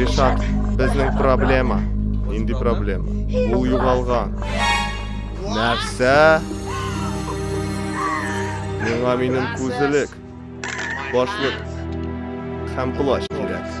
Ришат, безнең проблема. Инди проблема. Ул югалган. Нәрсә? Миңа минем күзелек, башлык һәм плащ кирәк.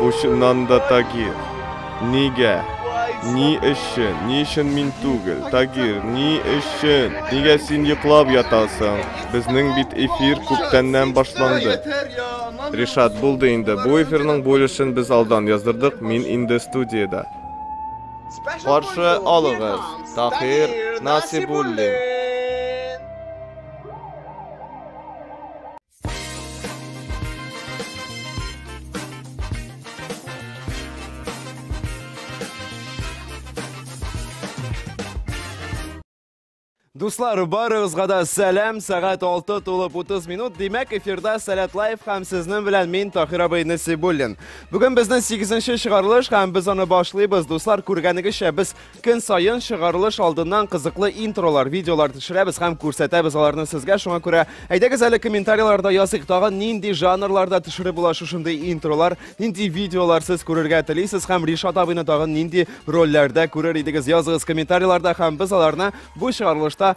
Бу чыннан да Тагир. Нигә? Ни өчен? Ни өчен мин түгел? Тагир, ни өчен? Нигә син йоклап ятасың? Безнең бит эфир күптәннән башланды. Ришат, булды инде. Бу эфирның бүлешен без алдан яздырдык, мин инде студиядә. Каршы алыгыз, Тагир Насибуллин. Дуслар, барыгызга да сәлам, сәгать 6 тулып 30 минут. Димәк, эфирда Сәләт Лайф һәм сезнең белән мин Тахир абый Насибуллин. Бүген безнең 8-нче чыгарылыш һәм без аны башлыйбыз. Дуслар, күргәнегезчә, без Көн саен чыгарылыш алдыннан кызыклы интролар, видеолар төшерәбез һәм күрсәтәбез аларны сезгә. Шуңа күрә әйдәгез әле комментарийларда языйк, тагын нинди жанрларда төшереп була шушындый интролар, нинди видеолар сез күрергә телисез һәм Ришат абыйны тагын нинди рольләрдә күрер идегез? Языгыз комментарийларда һәм без аларны бу чыгарылышта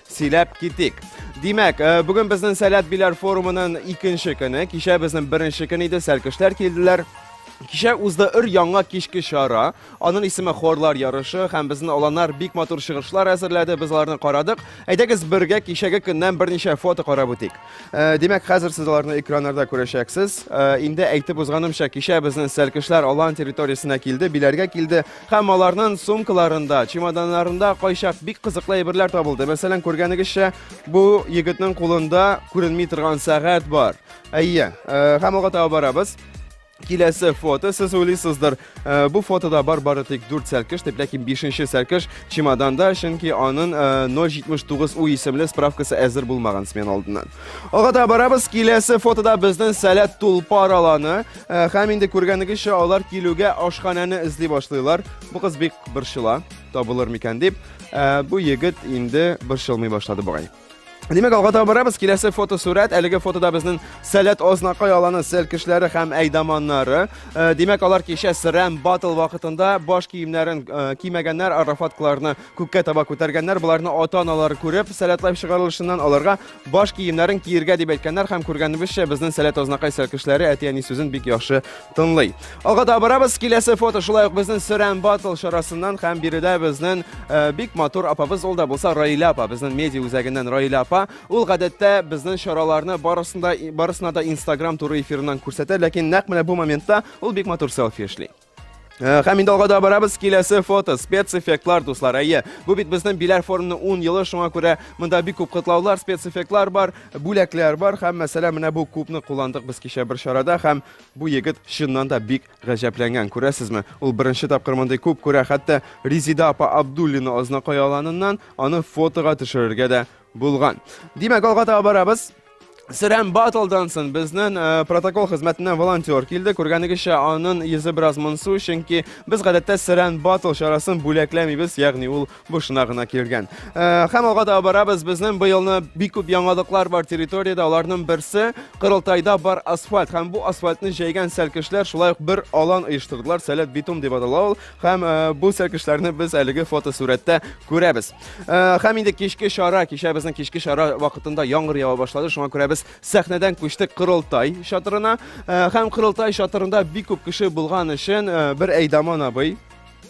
Сөйләп китик. Димәк, э, бүген безнең Сәләт Биләр форумының икенче көне. Кичә безнең беренче көн иде, сәлкешләр килделәр. Кичә узды өр яңа кичке чара. Аның исеме Хорлар ярышы һәм безнең аланнар бик матур чыгышлар әзерләде. Без аларны карадык. Әйдәгез бергә кичәге көннән берничә фото карап үтик. Э, Димәк, хәзер сез аларны экраннарда күрәчәксез. Э, Инде әйтеп узганымча, кичә безнең сәлкешләр алан территориясенә килде, биләргә килде. Һәм аларның сумкаларында, чемоданнарында кайчак бик кызыклы әйберләр табылды. Мәсәлән, күргәнегезчә, бу егетнең кулында күренми торган сәгать бар. Әйе, э, һәм алга таба барабыз. Киләсе фото, сез уйлыйсыздыр, э, бу фотода бар бары тик 4 сәлкеш, дип, ләкин 5-нче сәлкеш чемоданда, чөнки аның э, 079 у исемле справкасы әзер булмаган смена алдыннан. Алга таба барабыз, киләсе фотода безнең сәләт тулпар аланы. Э, һәм инде күргәнегезчә алар килүгә ашханәне эзли башлыйлар бу кыз бик борчыла табылыр микән дип э, бу егет инде борчылмый башлады бугай Димәк, алга таба барабыз. Киләсе фотосурәт. Әлеге фотода безнең Сәләт Ознакай аланы сел кешеләре һәм әйдаманнары. Э, димәк, алар кичә Срам батл вакытында баш киемнәрен э, кимәгәннәр, арафаткаларны күккә таба күтәргәннәр. Буларны ата-аналары күреп, сәләтләп чыгарылышыннан аларга Баш киемнәрен киергә дип әйткәннәр һәм күргәнебезчә безнең сәләт азнакай сәркешләре әти-әни сүзен бик яхшы тыңлый. Алга да барабыз, киләсе фото шулай ук безнең Сөрән Батл чарасыннан һәм биредә безнең э, бик матур апабыз ул да булса Раилә апа, безнең медиа үзәгеннән Раилә апа. Ул гадәттә безнең чараларны барысында барысына да Instagram туры эфирыннан күрсәтә, ләкин нәкъ менә бу моментта ул бик матур селфи эшли. Э, һәм инде алга да барабыз киләсе фото спецэффектлар дуслар әйе бу бит безнең биләр форумның 10 елы шуңа күрә монда бик күп котлаулар спецэффектлар бар бүләкләр бар һәм мәсәлән менә бу кубны кулландык без кичә бер чарада һәм бу егет чыннан да бик гаҗәпләнгән күрәсезме ул беренче тапкыр мондый куб күрә хәтта резида апа абдуллина азнакай аланыннан аны фотога төшерергә дә булган димәк алга таба барабыз Сөрән батлдан соң безнен э, протокол хезмәтеннән волонтер килде. Күргәнегезчә, анын йөзе бераз монсу, чөнки без гадәттә Сөрән батл чарасын бүләкләмибез, ягъни ул бушына гына килгән. Э, һәм алга да барабыз. Безнең быелны бик күп яңалыклар бар территориядә. Аларның берсе Кырылтайда бар асфальт һәм бу асфальтны җәйгән сәлкешләр шулай ук бер алан оештырдылар. Сәләт битум дип атала ул. Һәм бу сәлкешләрне без әлеге фотосурәттә күрәбез. Һәм инде кичке чара, кичә безнең кичке чара вакытында яңгыр ява башлады, шуңа күрә без сәхнәдән күчтек Кырылтай чатырына. Һәм Кырылтай чатырында бик күп кеше булган өчен бер Әйдаман абый,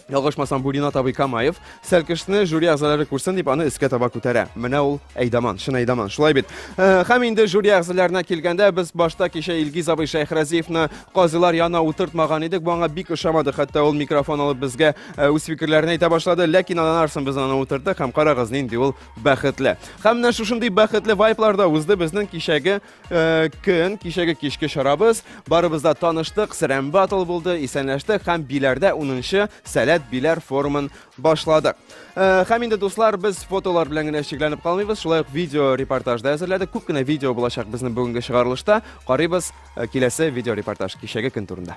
ялгышмасам, бу Ринат абый Камаев, Сәлкешне жюри әгъзалары күрсен дип аны өскә таба күтәрә. Менә ул Әйдаман, чын Әйдаман, шулай бит. Э, һәм инде жюри әгъзаларына килгәндә, без башта кичә Илгиз абый Шәйхразиевны казыйлар янына утыртмаган идек. Бу аңа бик ошамады. Хәтта ул микрофон алып безгә э, үз фикерләрен әйтә башлады. Ләкин аннан арсын без аны утырдык һәм карагыз нинди ул бәхетле. Һәм менә шушындый бәхетле вайбларда узды безнең кичәге Э, көн кичәге кичке чарабыз барыбызда таныштык сәрәм батл булды исәнләштек һәм биләрдә 10нчы сәләт биләр форумын башладык э, һәм инде дуслар без фотолар белән генә чикләнеп калмыйбыз шулай ук видео репортаж да әзерләдек күп кенә видео булачак безнең бүгенге чыгарылышта карыйбыз э, киләсе видео репортаж кичәге көн турында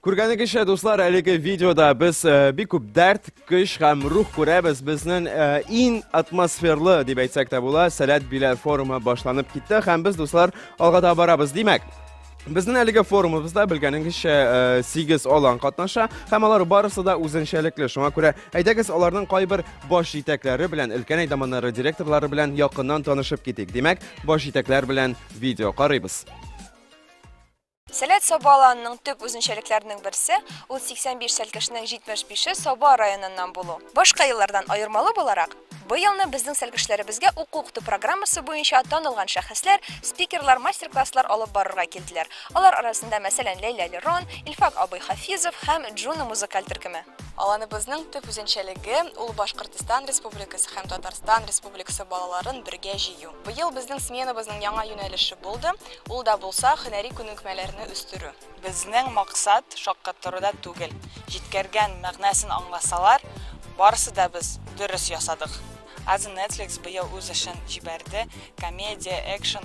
Күргәнегезчә, дуслар, әлеге видеода без э, бик күп дәрт, көч һәм рух күрәбез. Безнең э, иң атмосферлы, дип әйтсәк тә була, Сәләт Биләр форумы башланып китте һәм без, дуслар, алга да барабыз. Димәк, Безнең әлеге форумыбызда белгәнегезчә 8 э, алан катнаша һәм алар барысы да үзенчәлекле. Шуңа күрә әйдәгез аларның кайбер баш җитәкләре белән, өлкән әйдаманнары директорлары белән якыннан танышып китик. Димәк, Баш җитәкләр белән видео карыйбыз. Сәләт Саба аланының төп үзенчәлекләренең берсе, ул 85 сәлкешнең 75-е Саба районыннан булу. Башка еллардан аермалы буларак, быелны безнең сәлкешләребезгә уку-укыту программасы буенча танылган шәхесләр, спикерлар мастер-класслар алып барырга килделәр. Алар арасында, мәсәлән, Ләйлә Лерон, Илфак абый Хафизов һәм Джуна музыкаль төркеме. Аланыбызның төп үзенчәлеге, ул Башкортстан Республикасы һәм Татарстан Республикасы балаларын бергә җыю. Быел безнең сменабызның яңа юнәлеше булды, ул да булса, һөнәри күнекмәләрне үстерү. Безнең максат шаккатыру да түгел, җиткәргән мәгънәсен аңласалар, барысы да без дөрес ясадык. Азы Netflix быел үз эшен җибәрде, комедия, экшн,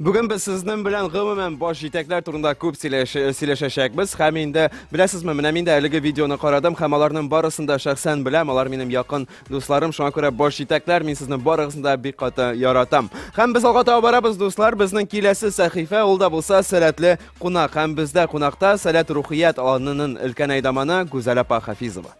Бүген без сезнең белән гомумән баш җитәкләр турында күп сөйләшәчәкбез. Һәм инде беләсезме, менә мин дә әлеге видеоны карадым һәм аларның барысын да шәхсән беләм. Алар минем якын дусларым, шуңа күрә баш җитәкләр, мин сезне барыгызны да бик каты яратам. Һәм без алга таба барабыз, дуслар. Безнең киләсе сәхифә ул да булса сәләтле кунак. Һәм бездә кунакта Сәләт рухият аланының өлкән әйдаманы Гүзәл апа Хафизова.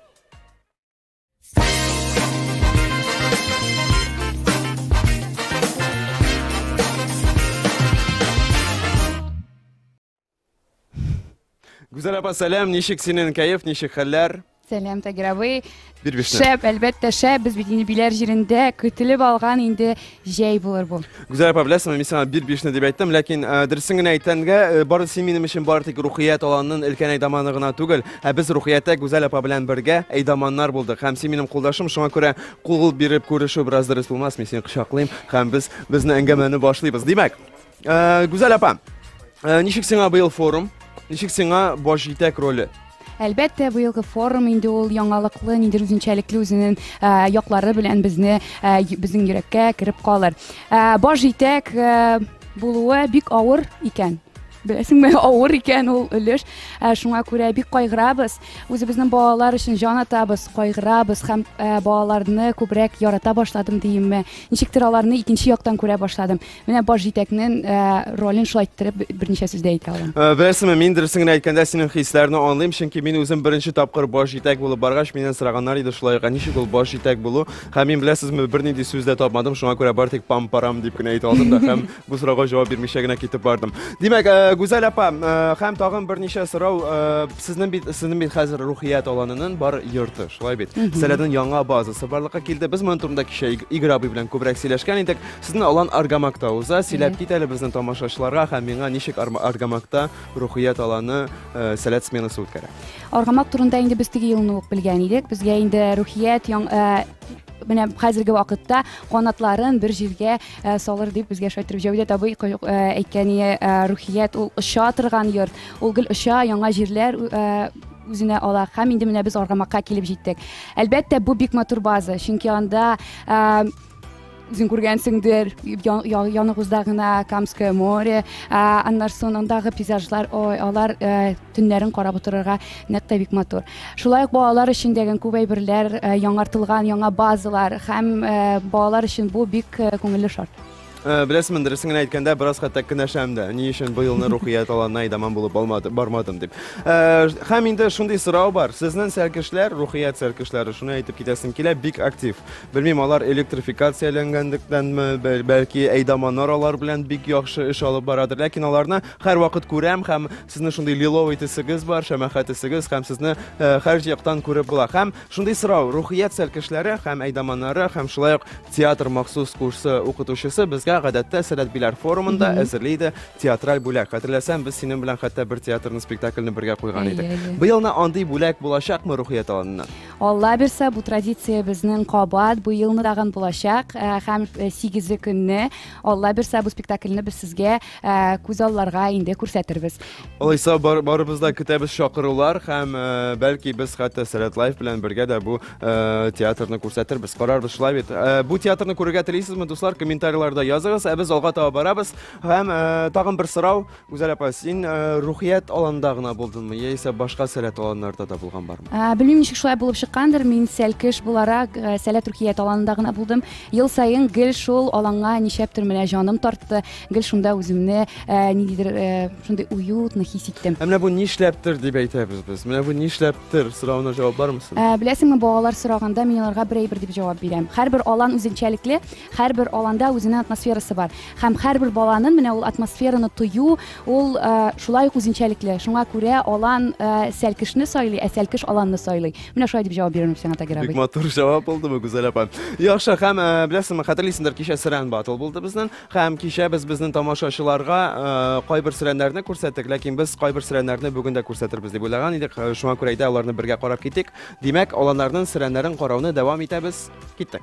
Гүзәл апа, сәлам, ничек синең кәеф, ничек хәлләр? Сәлам, Тагир абый. Бирбишне. Шәп, әлбәттә, шәп. Без бит инде биләр җирендә көтелеп алган инде Җәй булыр бу. Гүзәл апа, беләсеңме, мин сиңа бир бишне дип әйттем, ләкин э, дөресен генә әйткәнгә, э, бары син минем өчен бары тик Рухият аланның өлкән әйдаманы гына түгел, ә без Рухияттә Гүзәл апа белән бергә әйдаманнар булдык. Һәм син минем кулдашым, шуңа күрә кул биреп күрешү бераз дөрес булмас, мин сине кочаклыйм һәм без безне әңгәмәне башлыйбыз. Димәк, Э, Гүзәл апа, э, ничек сиңа быел форум? Ничек сиңа баш җитәк роле? Әлбәттә, быелгы форум инде ул яңалыклы, ниндер үзенчәлекле үзенең э, яклары белән безне э, й- безнең йөрәккә кереп калыр. Э, Баш җитәк э, булуы бик авыр икән. Беләсеңме, авыр икән ул өлеш. Ә, Шуңа күрә бик кайгырабыз. Үзебезнең балалар өчен җан атабыз, кайгырабыз һәм ә, балаларны күбрәк ярата башладым диимме. Ничектер аларны икенче яктан күрә башладым. Менә баш җитәкнең э, ролен шулай иттереп берничә сүздә әйтә алам. Э, Беләсеңме, мин дөресен генә әйткәндә синең хисләрне аңлыйм, чөнки мин үзем беренче тапкыр баш җитәк булып баргач, миннән сораганнар иде шулай, ә ничек ул баш җитәк булу? Һәм мин беләсезме, бернинди сүз дә тапмадым, шуңа күрә бары тик пам-парам дип кенә әйтә алдым да һәм бу сорауга җавап бирмичә генә китеп бардым. Димәк, э, Гүзәл апа, э, һәм тагын берничә сорау, э, сезнең бит сезнең бит хәзер рухият аланының бар йорты, шулай бит? Сәләтнең яңа базасы барлыкка килде. Без моның турында кичә Иг- Игорь абый белән күбрәк сөйләшкән идек. Сезне Алан Аргамакта уза. Сөйләп кит әле безнең тамашачыларга һәм миңа ничек Аргамакта Рухият Аланы э, сәләт сменасы үткәрә. Аргамак турында инде без теге елны ук белгән идек. Безгә инде Рухият яң, э, менә хәзерге вакытта канатларын бер җиргә э, салыр дип безгә шайтырып Җәүдәт абый э, әйткәне э, рухият ул оча торган йорт. Ул гел оча, яңа җирләр үзенә ала һәм инде менә без Аргамакка килеп җиттек. Әлбәттә, бу бик матур база, чөнки анда э, Үзең күргәнсеңдер, яныгызда гына Камское море, аннан соң андагы пейзажлар, ой, алар э, төннәрен карап утырырга нәкъ тә бик матур. Шулай ук балалар өчен дигән күп әйберләр, э, яңартылган яңа базалар һәм э, балалар өчен бу бик күңелле шарт. Э, беләсемен дөресен генә әйткәндә бераз хәтта кенәшәм дә ни өчен бу елны рухият аланына идаман булып алмады бармадым дип э, һәм инде шундый сорау бар сезнең сәркешләр рухият сәркешләре шуны әйтеп китәсем килә бик актив Белмим, алар электрификацияләнгәнлектәнме, бәлки әйдаманнар алар белән бик яхшы эш алып барадыр. Ләкин аларны һәрвакыт күрәм һәм сезнең шундый лиловый төсегез бар, шәмәхә төсегез һәм сезне э, һәр яктан күреп була. Һәм шундый сорау, рухият сәлкешләре һәм әйдаманнары һәм шулай ук театр махсус курсы укытучысы безгә гадәттә Сәләт Биләр форумында әзерли иде театраль бүләк. Хәтерләсәм, без синең белән хәтта бер театрны спектакльне бергә куйган идек. Быелны андый бүләк булачакмы рухият аланыннан? Алла бирсә, бу традиция безнең кабат бу елны тагын булачак э, һәм э, сигезе көнне Алла бирсә, бу спектакльне без сезгә э, күз алларга инде күрсәтербез. Алайса бар, барыбыз да көтәбез чакырулар һәм э, бәлки без хәтта Сәләт Лайф белән бергә дә бу э, театрны күрсәтербез. Карарбыз шулай бит. Э, бу театрны күрергә телисезме, дуслар? Комментарийларда языгыз. Ә без алга таба барабыз һәм э, тагын бер сорау. Гүзәл апа, син рухият аланда гына булдыңмы, яисә башка сәләт аланнарда да булган бармы? Белмим, ничек шулай булып чыккандыр, мин сәлкеш буларак сәләт рухият аланында гына булдым. Ел саен гел шул аланга ничәптер менә җаным тартты, гел шунда үземне ниндидер шундый уютно хис иттем. Ә менә бу нишләптер дип әйтәбез без. Менә бу нишләптер соравына җавап бармы соң? Беләсеңме, балалар сораганда мин аларга бер әйбер дип җавап бирәм. Һәрбер алан үзенчәлекле. Һәрбер аланда үзенең атмосферасы бар. Һәм һәрбер баланын менә ул атмосфераны тою, ул шулай ук үзенчәлекле. Шуңа күрә алан сәлкешне сайлый, ә сәлкеш аланны сайлый. Менә шулай дип җавап бирер Нурсиңа Тагир абый. Бик матур җавап булдымы, Гүзәл апа? Яхшы, һәм беләсеңме, хәтерлисеңдер, кичә сөрән батл булды безнең. Һәм кичә без безнең тамашачыларга кайбер сөрәннәрне күрсәттек, ләкин без кайбер сөрәннәрне бүген дә күрсәтербез дип уйлаган идек. Шуңа күрә әйдә аларны бергә карап китик. Димәк, аланнарның сөрәннәрен карауны дәвам итәбез. Киттек.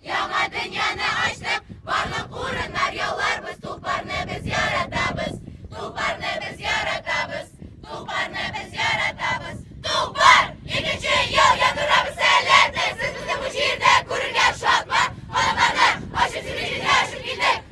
Яңа дөньяны ачтык, барлык урыннар яуларбыз, Тупарны без яратабыз, Тупарны без яратабыз, Тупарны без яратабыз, Тупар! Икенче ел яндырабыз сәләтен, Сез безне бу җирдә күрергә шатмы, Калакларны ачып, сине җиргә ачып килдек.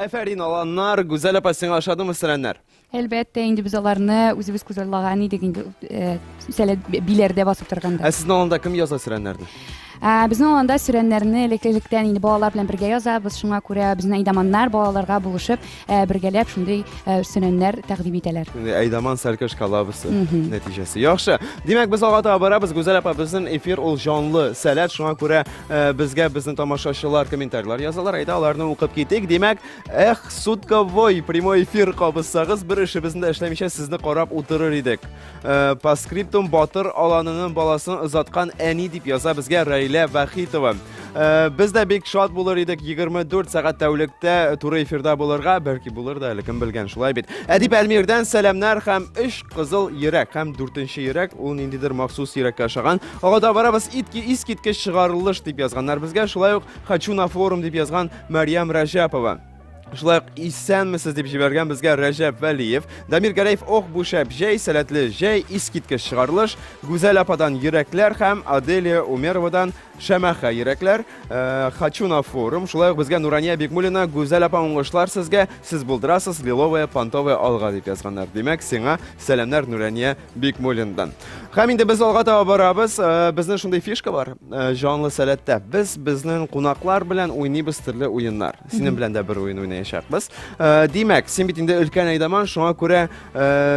Әфәрин, аланнар, Гүзәл апа, сиңа ошадымы сәләмнәр? Әлбәттә, инде без аларны үзебез күзаллаган идек инде, э, сәлә биләрдә басып торганда. Ә сезнең аланда кем яза сәләмнәрне? Ә, безнең аланда сүрәннәрне элеккелектән инде балалар белән бергә язабыз, шуңа күрә безнең әйдаманнар балаларга булышып, ә, бергәләп шундый ә, сүрәннәр тәкъдим итәләр. Инде Әйдаман сәрке шкалабысы Мгм. нәтиҗәсе. Яхшы. Димәк, без алга таба барабыз. Гүзәл апа, безнең эфир ул җанлы сәләт, шуңа күрә Э, безгә безнең тамашачылар комментарийлар язалар әйдә аларны укып китик димәк эх сутковой прямой эфир кабызсагыз бер эшебезне дә эшләмичә сезне карап утырыр идек э, по скриптум батыр аланының баласын озаткан әни дип яза безгә рәйлә вахитова э, без дә бик шат булыр идек 24 сәгать тәүлектә туры эфирда булырга бәлки булыр да әле кем белгән шулай бит әдип әлмирдән сәламнәр һәм өч кызыл йөрәк һәм дүртенче йөрәк ул ниндидер махсус йөрәккә ошаган Ага да барабыз итки искиткеч чыгарылыш дип язганнар безгә, шулай ук Хочу на форум дип язган Марьям Рәҗәпова. Шулай ук исәнмесез дип җибәргән безгә Рәҗәп Вәлиев. Дамир Гәрәев ох бу шәп җәй, сәләтле җәй, искиткеч чыгарылыш. Гүзәл ападан йөрәкләр һәм Аделия Умеровадан Шәмәхә йөрәкләр. Э, Хочу на форум. Шулай ук безгә Нурания Бигмулина, Гүзәл апа уңышлар сезгә. Сез булдырасыз, лиловая, понтовая алга дип язганнар. Димәк, сиңа сәламнәр Нурания Бикмуллиндан. Һәм инде без алга таба барабыз. Э, безнең шундый фишка бар. Э, җанлы сәләттә без безнең кунаклар белән уйныйбыз төрле уеннар. Синең белән дә бер уен уйнаячакбыз. Э, димәк, син бит инде өлкән әйдаман, шуңа күрә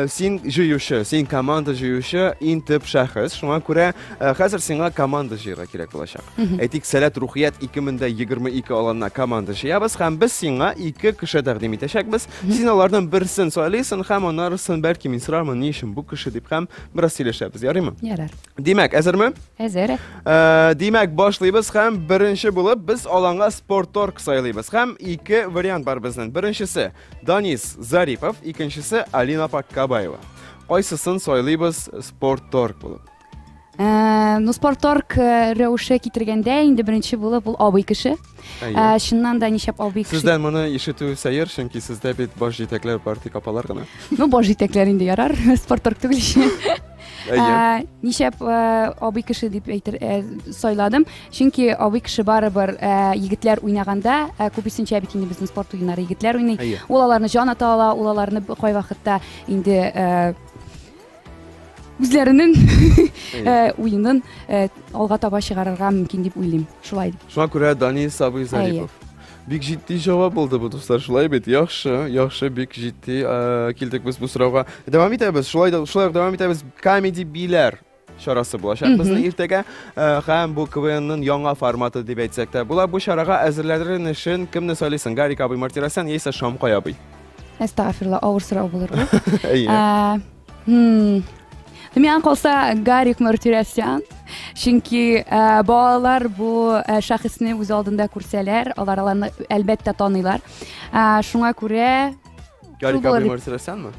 син җыючы, син команда җыючы, иң төп шәхес. Шуңа күрә хәзер сиңа команда җыярга кирәк булачак. Әйтик, сәләт рухият 2022 аланына команда җыябыз һәм без сиңа ике кеше тәкъдим итәчәкбез. Син алардан берсен сайлыйсың һәм анарысын, бәлки, мин сорармын, ни өчен бу кеше дип һәм бераз сөйләшәбез, ярыймы? Ярар. Димәк, әзерме? Әзер. Ә, димәк, башлыйбыз һәм беренче булып без аланга спорторг сайлыйбыз. Һәм ике вариант бар безнең. Беренчесе Данис Зарипов, икенчесе Алина Паккабаева. Кайсысын сайлыйбыз спорторг булып? Э, ну спорторг э, рәвеше китергәндә инде беренче булып ул абый кеше э, чыннан да нишләп абый кеше сездән моны ишетү сәер чөнки сездә бит баш җитәкләр бар тик апалар гына ну баш җитәкләр инде ярар спорторг түгел нишләп абый кеше дип әйтер сайладым чөнки абый кеше барыбер егетләр уйнаганда күбесенчә бит инде безнең спорт уеннары егетләр уйный ул аларны җан ата ала ул аларны кайвакытта инде үзләренең э, уенын э, алга таба чыгарырга мөмкин дип уйлыйм шулай дип шуңа күрә данил сабый зарипов бик җитди җавап булды бу дуслар шулай бит яхшы яхшы бик җитди э, килдек без бу сорауга дәвам итәбез шулай да шулай ук дәвам итәбез камеди биләр чарасы булачак безнең иртәгә һәм бу квнның яңа форматы дип әйтсәк тә була бу чарага әзерләнер өчен кемне сайлыйсың гарик абый мартиросян яисә шамкай абый әстәгәфирла авыр сорау булыр бу миңа калса гарик мартиросян чөнки ә, балалар бу ә, шәхесне үз алдында күрсәләр алар аларны әлбәттә таныйлар ә, шуңа күрә гарик абый мартиросянмы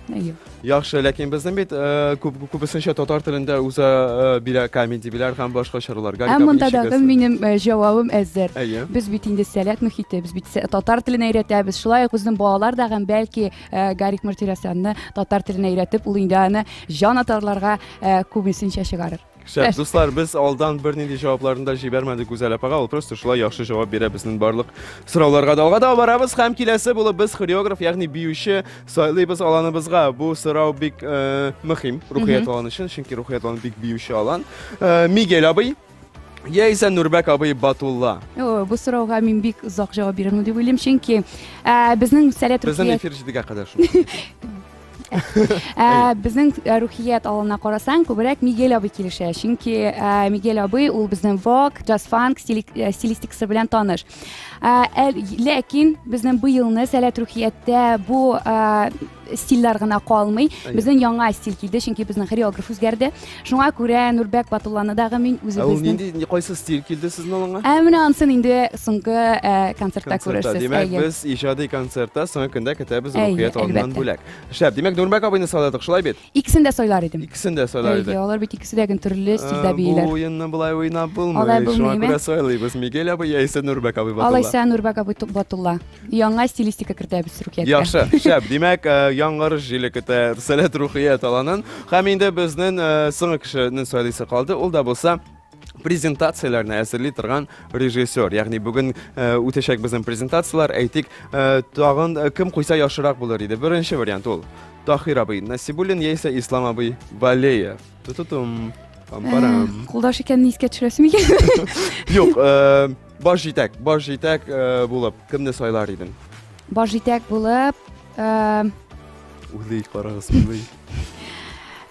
Яхшы, ләкин безнең бит э, күп, күбесенчә татар телендә уза э, бирә комедия биләр һәм башка чаралар. Галика, Ә бу монда ничек дагы әзер? минем э, җавабым әзер. Әйе. Без бит инде сәләт мөхите, без бит сә- татар телен өйрәтәбез. Шулай ук безнең балалар да һәм бәлки э, Гарик Мартиросянны татар теленә өйрәтеп, ул инде аны җан атарларга э, күбесенчә чыгарыр. Шәп, дуслар, без алдан бернинди җавапларын да җибәрмәдек Гүзәл апага, ул просто шулай яхшы җавап бирә безнең барлык сорауларга. Да алга да барабыз һәм киләсе булып без хореограф, ягъни биюче сайлыйбыз аланыбызга. Бу сорау бик э, мөһим рухият аланы өчен, чөнки рухият аланы бик биюче алан. Э, Мигель абый яисә Нурбәк абый Батулла. О, бу сорауга мин бик озак җавап бирермен дип уйлыйм, чөнки ә, безнең сәләт Безнең рухият эфир җидегә кадәр шул. Ә, безнең ә, рухият алына карасаң, күбрәк Мигель абый килешә. Чөнки ә, Мигель абый ул безнең вок, джаз-фанк стили- ә, стилистикасы белән таныш. Ә, әл- ләкин безнең быелны сәләт рухияттә бу ә, стильләр генә калмый. Әйе. Безнең яңа стиль килде, чөнки безнең хореограф үзгәрде. Шуңа күрә Нурбәк Батулланы дагы мин үзебезнең... Ә ул нинди, нинди кайсы стиль килде сезнең алыңа? Ә менә ансын инде соңгы ә, концертта күрерсез. Димәк, без иҗади концертта соңгы көндә көтәбез рухият алыннан бүләк. Шәп, димәк, Нурбәк абыйны сайладык, шулай бит? Икесен дә сайлар идем. Икесен дә сайлар идем. Әйе, алар бит икесе дә гөн төрле стильдә бииләр. Бу уенны былай уйнап булмый. Шуңа күрә сайлыйбыз. Мигель абый яисә Нурбәк абый Батулла. Алайса Нурбәк абый Батулла. Яңа стилистика кертәбез Рухияткә. Яхшы, шәп. Димәк, э, яңгырыш җиле көтә Сәләт Рухия таланын. Һәм инде безнең э, соңгы кешенең сөйлисе калды. Ул да булса презентацияләрне әзерли торган режиссер. Ягъни бүген э, үтәчәк безнең презентацияләр, әйтик, э, тагын э, кем куйса яхшырак булыр иде. Беренче вариант ул. Тахир абый Насибуллин яисә Ислам абый Валеев. Тутутум. Пам-парам. Кулдаш икәнне искә төшерәсем икән. Юк, э, Баш җитәк, баш җитәк э, булып кемне сайлар идең? Баш җитәк булып, э, Уйлый, карагыз, уйлый.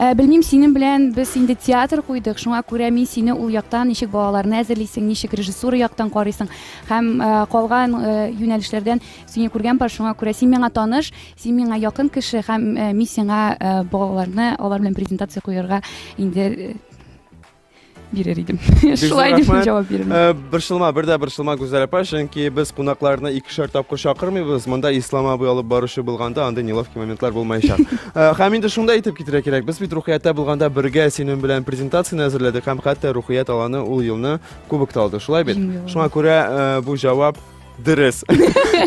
Ә, белмим, синең белән без инде театр куйдык, шуңа күрә мин сине ул яктан ничек балаларны әзерлисең, ничек режиссура яктан карыйсың һәм ә, калган ә, юнәлешләрдән сине күргән бар, шуңа күрә син миңа таныш, син миңа якын кеше һәм ә, мин сиңа ә, балаларны алар белән презентация куярга инде бирер идем шулай дип җавап бирдем э, борчылма бер дә борчылма гүзәл апа чөнки без кунакларны икешәр тапкыр чакырмыйбыз монда ислам абый алып баручы булганда андый неловкий моментлар булмаячак э, һәм инде шунда әйтеп китәргә кирәк без бит рухияттә булганда бергә синең белән презентацияне әзерләдек һәм хәтта рухият аланы ул елны кубок та алды шулай бит шуңа күрә э, бу җавап Дөрес.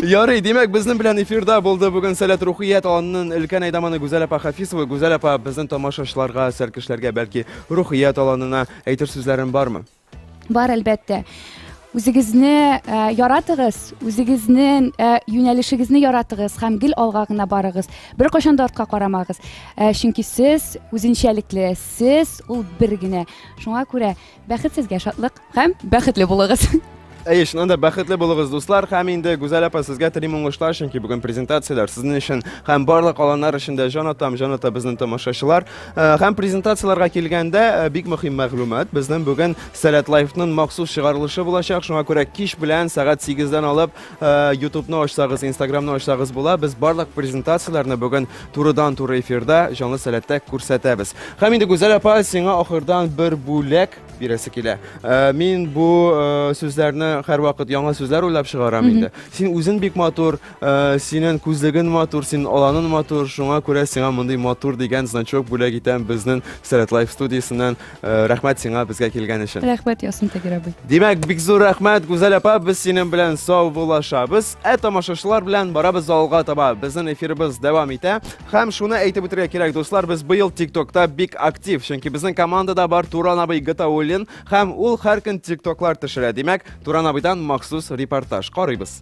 Ярый, димәк, безнең белән эфирда булды бүген Сәләт Рухият аланының өлкән әйдаманы Гүзәл апа Хафизова. Гүзәл апа безнең тамашачыларга, сәркешләргә бәлки Рухият аланына әйтер сүзләрен бармы? Бар, әлбәттә. Үзегезне ә, яратыгыз, үзегезне ә, юнәлешегезне яратыгыз һәм гел алга гына барыгыз. Бер кашан да артка карамагыз. Ә, чөнки сез үзенчәлекле, сез ул бер генә. Шуңа күрә Бәхетсезгә шатлык һәм бәхетле булыгыз! Әйе, чыннан да бәхетле булыгыз, дуслар, һәм инде Гүзәл апа, сезгә телим уңышлар, чөнки бүген презентацияләр сезнең өчен һәм барлык аланнар өчен дә җан атам, җан ата безнең тамашачылар. Э, һәм презентацияләргә килгәндә, э, бик мөһим мәгълүмат, безнең бүген Сәләт Лайфның махсус чыгарылышы булачак, шуңа күрә кич белән сәгать 8-дән алып Э, ютубны ачсагыз инстаграмны ачсагыз була без барлык презентацияләрне бүген турыдан туры эфирда җанлы сәләттә күрсәтәбез һәм инде гүзәл апа сиңа ахырдан бер бүләк бирәсе килә э, мин бу э, сүзләрне һәрвакыт яңа сүзләр уйлап чыгарам инде син үзен бик матур синен күзлегең матур син аланың матур шуңа күрә сиңа мондый матур дигән значок бүләк итәм безнең сәләт лайф студиясеннән Рәхмәт сиңа безгә килгән өчен. Рәхмәт ясын Тагир абый. Димәк, бик зур рәхмәт, Гүзәл апа, без синең белән саубуллашабыз. Ә тамашачылар белән барабыз алга таба. Безнең эфирыбыз дәвам итә. Һәм шуны әйтеп үтәргә кирәк, дуслар, без быел ТикТокта бик актив, чөнки безнең командада бар Туран абый Гатауллин, һәм ул һәр көн ТикТоклар төшерә. Димәк, Туран абыйдан махсус репортаж карыйбыз.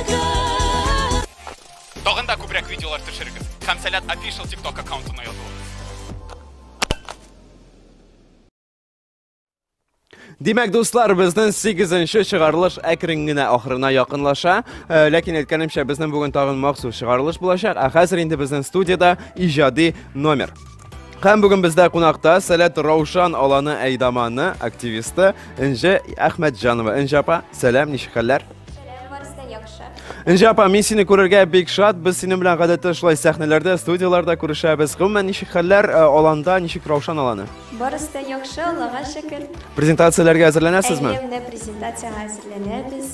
Тагын да күбрәк видеолар төшерегез. Камсалят Official TikTok аккаунтына язылыгыз. Димәк, дуслар, безнең 8-нче чыгарылыш әкрен генә ахырына якынлаша. Э, ләкин әйткәнемчә, безнең бүген тагын махсус чыгарылыш булачак. Ә хәзер инде безнең студиядә иҗади номер. Һәм бүген бездә кунакта Сәләт Раушан аланы әйдаманы активисты Инҗә Әхмәтҗанова. Инҗә апа, сәлам, ничек хәлләр? Инҗә апа, мин сине күрергә бик шат. Без синең белән гадәттә шулай сәхнәләрдә, студияләрдә күрешәбез. Гомумән, ничек хәлләр э, аланда, ничек Раушан аланы? Барысы да яхшы, Аллага шөкер. Презентацияләргә әзерләнәсезме? Әле менә презентациягә әзерләнәбез.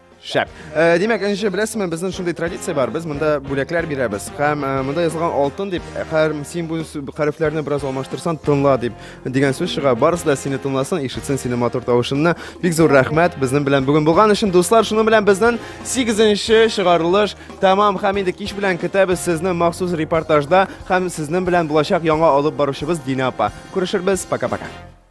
Шәп. Э, димәк, энҗе, беләсезме, безнең шундый традиция бар. Без монда бүләкләр бирәбез. Һәм э, монда язылган алтын дип, һәр син бу хәрефләрне бераз алмаштырсан, тыңла дип дигән сүз чыга. Барысы да сине тыңласын, ишетсен сине матур тавышыңны. Бик зур рәхмәт безнең белән бүген булган өчен, дуслар. Шуның белән безнең 8-нче чыгарылыш тәмам һәм инде кич белән көтәбез сезне махсус репортажда һәм сезнең белән булачак яңа алып баручыбыз Дина апа. Күрешербез. Пока-пока.